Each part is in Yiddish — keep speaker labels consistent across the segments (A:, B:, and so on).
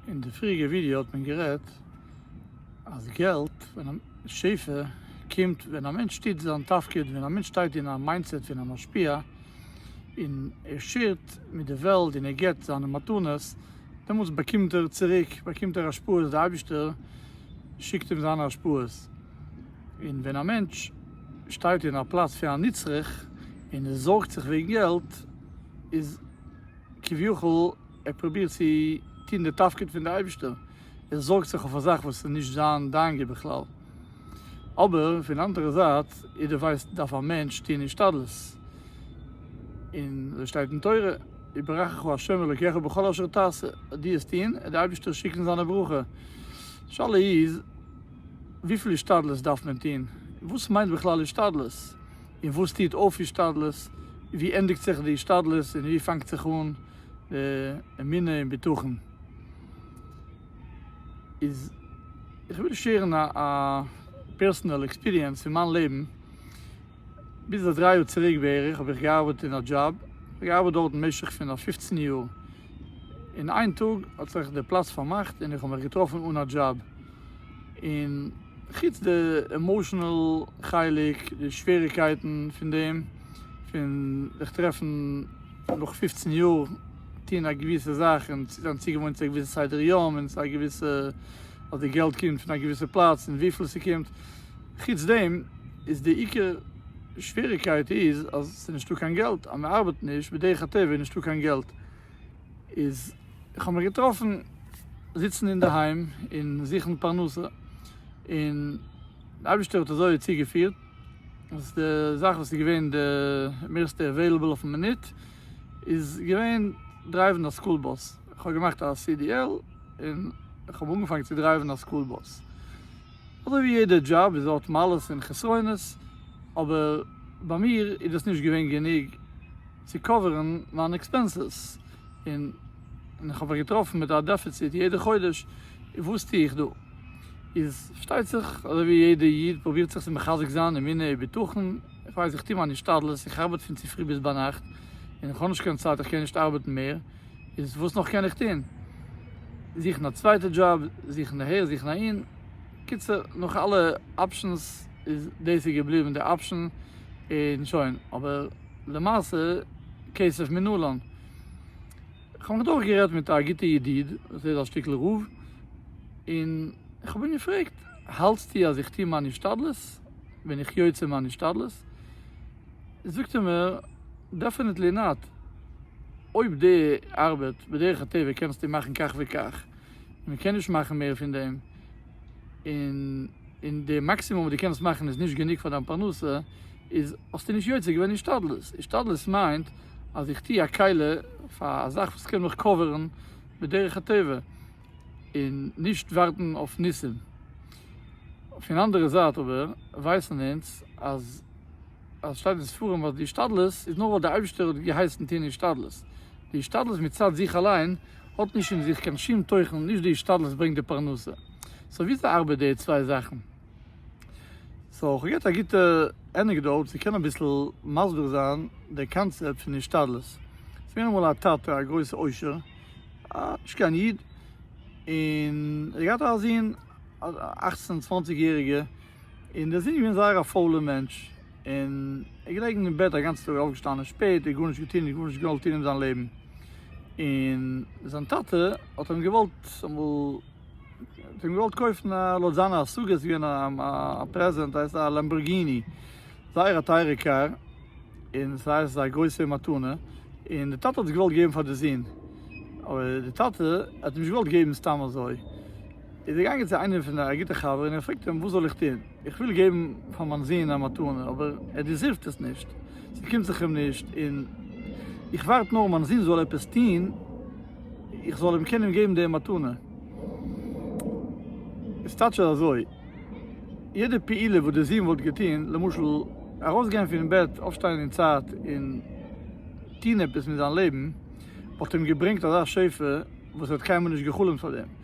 A: אין די פריעריגע ווידיא האט מען גערעדט אז געלט ווען שפע קומט ווען א מענטש טוט זיין תפקיד ווען א מענטש שטייט אין א מיינדסעט פון א משפיע און ער שעירט מיט די וועלט און ער געבט זיינע מתנות דעמאלטס באקומט ער צוריק באקומט ער השפעות די אייבישטער שיקט אים זיינע השפעות און ווען א מענטש שטייט אין א פלאץ פון א נצרך און ער זארגט זיך וועגן געלט איז כביכול ער פרובירט צו טון די תפקיד פון די אייבישטער, ער זארגט זיך אויף א זאך וואס איז נישט זיין דאנגע בכלל, אבער פון אנדערע זייט יעדער ווייסט דארף א מענטש טון השתדלות, און אזוי שטייט אין תורה יברכך ה' אלוקיך בכל אשר תעשה, אז דו וועסט טון וועט די אייבישטער שיקן זיינע ברכה, די שאלה איז וויפיל השתדלות דארף מען טון? וואס מיינט בכלל השתדלות? און וואס טוט אויף השתדלות, ווי ענדיגט זיך די השתדלות און ווי פאנגט זיך אן די אמונה און בטחון. איז איך וויל שעירן א א פערסענעל עקספיריענס פון מיין לעבן, ביז א דריי יאר צוריק בערך האב איך געארבעט אין א דזשאב, כ'האב געארבעט דארט משך פון א פופצן יאר, און איין טאג האט זיך די פלאץ פארמאכט און איך האב מיך געטראפן אן א דזשאב, און חוץ די עמאושענעל חלק די שוועריקייטן פון דעם פון זיך טרעפן נאך פופצן יאר טון א געוויסע זאך און זיין צוגעוואוינט צו א געוויסע סדר יום און א געוויסע אז די געלט קומט פון א געוויסע פלאץ און וויפיל ס'קומט חוץ דעם איז די עיקר שוועריקייט איז אז ס'נישטא קיין געלט אז מ'ארבעט נישט בדרך הטבע איז נישטא קיין געלט. איז איך האב מיך געטראפן זיצן אינדערהיים און זוכן פרנסה און די אייבישטער האט אזוי צוגעפירט אז די זאך וואס איז געווען די מערסטע עוועילעבל אויפן מינוט איז געווען דרייוון א סקול באס, איך האב געמאכט א CDL און איך האב אנגעפאנגען צו דרייוון א סקול באס, אזוי ווי יעדע דזשאב איז האט מעלות און חסרונות אבער ביי מיר איז דאס נישט געווען גענוג, צו קאווערן מיין עקספענסעס, און איך האב זיך געטראפן מיט א דעפיציט יעדע חודש, וואס טו איך דא? איז פארשטייט זיך אזוי ווי יעדע איד פרובירט זיך צו מחזק זיין אמונה און בטחון, איך ווייס איך טו מיין השתדלות, איך ארבעט פון צופרי ביז ביינאכט, און איך האב נישט קיין צייט איך קען נישט ארבעטן מער, איז וואס נאך קען איך טון? זוכן א צווייטע דזשאב, זוכן אהער זוכן אהין, קיצור נאך אלע אפשענס איז דאס איז געבליבן די אפשען און שוין, אבער. למעשה כסף מנלן. כ'האב נאך דורך גערעדט מיט א גוטע ידיד וואס ער איז א שטיקל רב, און כ'האב אים געפרעגט, האלטסטו אז איך טוה מיין השתדלות? בין איך יוצא מיין השתדלות? זאגט ער מיר, דעפענעטלי נאט, אויב די ארבעט בדרך הטבע קענסטו מאכן כך וכך, מען קען נישט מאכן מער פון דעם, און און די מאקסימום וואס דו קענסט מאכן איז נישט גענוג פאר דיין פרנסה, איז האסטו נישט יוצא געווען השתדלות, השתדלות מיינט אז איך טוה א קהלה פאר א זאך וואס קען מיך קאווערן בדרך הטבע, און נישט ווארטן אויף ניסים. פון אנדערע זייט אבער ווייסן אונז אז. אז עס שטייט אין ספרים וואס די השתדלות איז נאר ווייל דער אייבישטער האט געהייסן טוהן השתדלות, די השתדלות מצד זיך אליין האט נישט אין זיך קיין שום תוכן, נישט די השתדלות ברענגט די פרנסה, סאו וויאזוי ארבעט די צוויי זאכן? סאו איך האב געהערט א גוטע ענעקדאוט צו קענען אביסל מסביר זיין די קאנצעפט פון השתדלות, עס איז געווען אמאל א טאטע א גרויסע עושר, נישט קיין איד, און ער האט געהאט א זון א אכצן צוואנציג יעריגע, און דער זון איז געווען זייער א פוילער מענטש, און ער איז געלעגן אין בעט א גאנצע טאג, אויפגעשטאנען שפעט, ער האט גארנישט געטון, ער האט גארנישט געוואלט טון אין זיין לעבן, און זיין טאטע האט אים געוואלט אמאל, האט אים געוואלט קויפן א, לויט זיינע השגות איז געווען א פרעזענט, הייסט א לעמבארגיני, זייער א טייערע קאר, און עס הייסט א גרויסע מתנה, און דער טאטע האט עס געוואלט געבן פאר די זון, אבער דער טאטע האט נישט געוואלט געבן סתם אזוי, איז ער געגאנגען צו איינעם פון א גוטע חבר און ער פרעגט אים וואס זאל איך טון, איך וויל געבן פאר מיין זון א מתנה אבער ער דעזירווד עס נישט, ס'קומט זיך אים נישט און איך ווארט נאר מיין זון זאל עפעס טון איך זאל אים קענען געבן די מתנה. איז טייטש עס אזוי, יעדע פעולה וואס די זון וואלט געטון, למשל ארויסגיין פון בעט, אויפשטיין אין צייט און טון עפעס מיט זיין לעבן, וואלט אים געברענגט אזא שפע וואס ער האט קיינמאל נישט גע'חלומ'ט פאר דעם.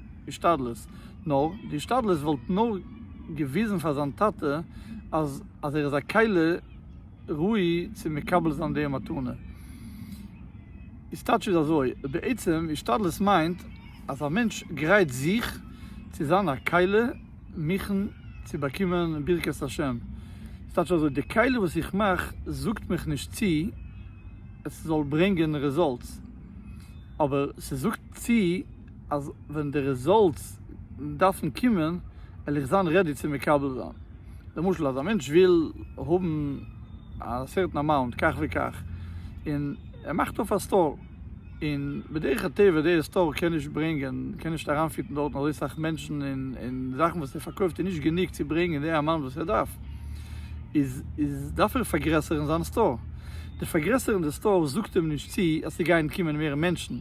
A: השתדלות, נאר די השתדלות וואלט נאר געוויזן פאר זיין טאטע אז אז ער איז א כלה ראוי צו מקבל זיין די מתנה. איז טייטש איז אזוי, בעצם השתדלות מיינט אז א מענטש גרייט זיך צו זיין א כלה מכן צו באקומען ברכת השם. איז טייטש אזוי, די כלה וואס איך מאך זאגט מיך נישט צו עס זאל ברענגען רעזאלטס, אבער ס'זאגט צו. אז ווען די רעזאלטס דארפן קומען וועל איך זיין רעדי צו מקבל זיין, למשל אז א מענטש וויל האבן א סערטען אמאונט כך וכך און ער מאכט אויף א סטאר און בדרך הטבע די סטאר קען נישט ברענגען קען נישט אריינפיטן דארטן אזוי סאך מענטשן און זאכן וואס ער פארקויפט איז נישט גענוג צו ברענגען די אמאונט וואס ער דארף איז איז דארף ער פארגרעסערן זיין סטאר, די פארגרעסערן די סטאר זאגט אים נישט צו אז ס'גייען קומען מער מענטשן.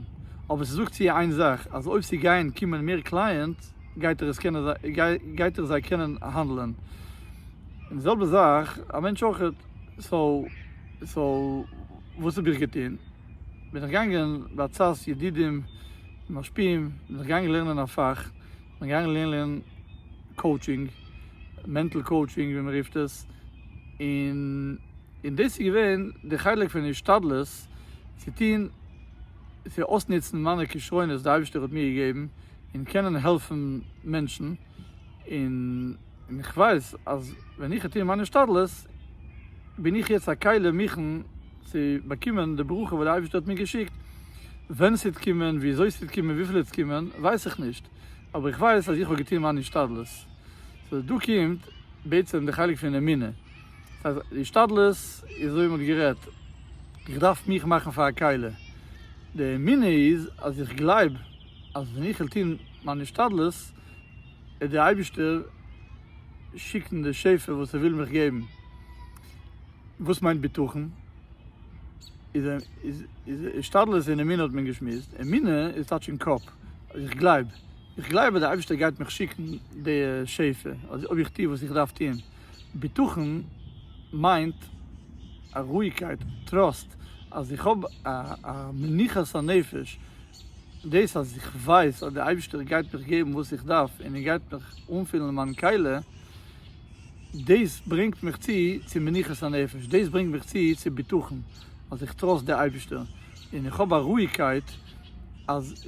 A: אבער ס'זאגט צו איר איין זאך אז אויב ס'גייען קומען מער קלייענטס גייט ער עס קענען גייט ער זיי קענען האנדלען און די זעלבע זאך א מענטש אויכעט סאו סאו וואס האב איך געטון בין איך געגאנגען בעצת ידידים ומשפיעים בין איך געגאנגען לערנען א פאך בין געגאנגען לערנען קאוטשינג מענטל קאוטשינג ווי מ'רופט עס און און דאס איז געווען די חלק פון השתדלות צו טון. צו אויסנוצן מיינע כשרונות וואס די אייבערשטער האט מיר געגעבן און קענען העלפן מענטשן, און איך ווייס אז ווען איך וועל טון מיין השתדלות בין איך יעצט א כלי מוכן צו באקומען די ברכה וואס די אייבערשטער האט מיר געשיקט, ווען ס'וועט קומען, וויאזוי ס'וועט קומען, וויפיל עס וועט קומען, ווייס איך נישט, אבער איך ווייס אז איך האב געטון מיין השתדלות, סאו דא קומט בעצם די חלק פון אמונה. דאס הייסט די השתדלות איז אזוי ווי מען האט גערעדט, איך דארף מיך מאכן פאר א קהלה, די אמונה איז אז איך גלייב אז ווען איך וועל טון מיין השתדלות וועט די אייבישטער שיקן די שפע וואס ער וויל מיך געבן, וואס מיינט בטחון? איז השתדלות און אמונה האט מען געשמועסט, אמונה איז טייטש אין קאפ, אז איך גלייב, איך גלייב אז די אייבישטער גייט מיך שיקן די שפע אויב איך טו וואס איך דארף טון. בטחון מיינט א רואיגקייט, טראסט, אז איך האב א מנוחת הנפש, דאס אז איך ווייס אז דער אייבערשטער גייט מיך געבן וואס איך דארף און ער גייט מיך אנפילן מיין קעלע, דאס ברענגט מיך צו צו מנוחת הנפש, דאס ברענגט מיך צו צו בטחון, אז איך טראסט דער אייבערשטער, און איך האב א רואיגקייט אז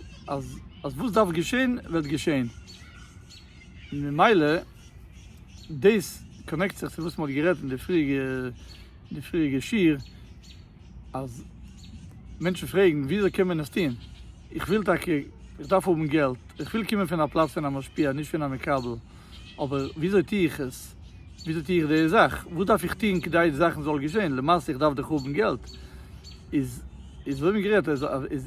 A: אז וואס דארף געשען וועט געשען. און ממילא דאס קאנעקט זיך צו וואס מ'האט גערעדט אין די פריעריגע שיעור אז מענטשן פרעגן ווי אזוי קען מען עס טון, איך וויל טאקע, איך דארף האבן געלט, איך וויל קומען פון א פלאץ פון א משפיע נישט פון א מקבל, אבער ווי אזוי טו איך עס, ווי אזוי טו איך די זאך, וואס דארף איך טון כדי די זאכן זאל געשען, למעשה איך דארף דאך האבן געלט, איז איז אזוי ווי גערעדט איז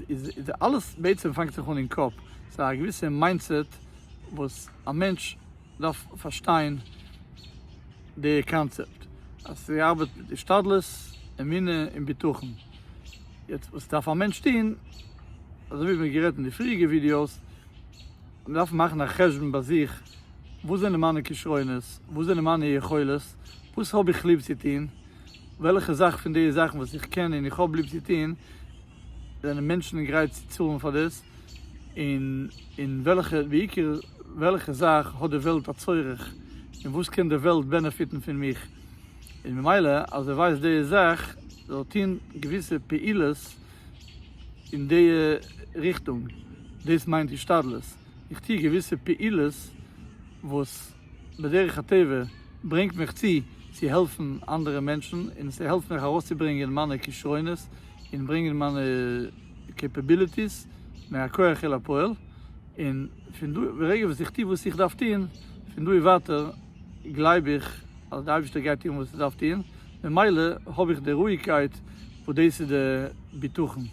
A: איז איז אלעס בעצם פאנגט זיך אן אין קאפ, ס'איז א געוויסע מיינדסעט וואס א מענטש דארף פארשטיין די קאנצעפט אז ס'ארבעט מיט השתדלות, אמונה און בטחון. יעצט וואס דארף א מענטש טוהן, אזוי ווי מיר האבן גערעדט אין די פריעריגע ווידיאוס, מען דארף מאכן א חשבון ביי זיך, וואס זענען מיינע כשרונות, וואס זענען מיינע יכולת, וואס האב איך ליב צו טוהן, וועלכע זאך פון די זאכן וואס איך קען און איך האב ליב צו טוהן, זענען מענטשן גרייט צו צאלן פאר דאס? און און וועלכע בעיקר וועלכע זאך האט די וועלט א צורך און וואס קען די וועלט בענעפיטן פון מיך? און ממילא אז ער ווייסט די זאך זאל ער טון געוויסע פעולות אין די ריכטונג, דאס מיינט השתדלות, איך טו געוויסע פעולות וואס. בדרך הטבע ברענגט מיך צו צו העלפן אנדערע מענטשן און ס'העלפט מיך ארויסצוברענגען מיינע כשרונות און ברענגען מיינע קעפעביליטיס מהכח אל הפועל און פון דא ברגע וואס איך טו וואס איך דארף טון פון דא און ווייטער גלייב איך אז די אייבערשטער גייט טון וואס ער דארף טון ממילא האב איך די רואיגקייט וואס דאס איז די בטחון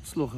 A: הצלחה.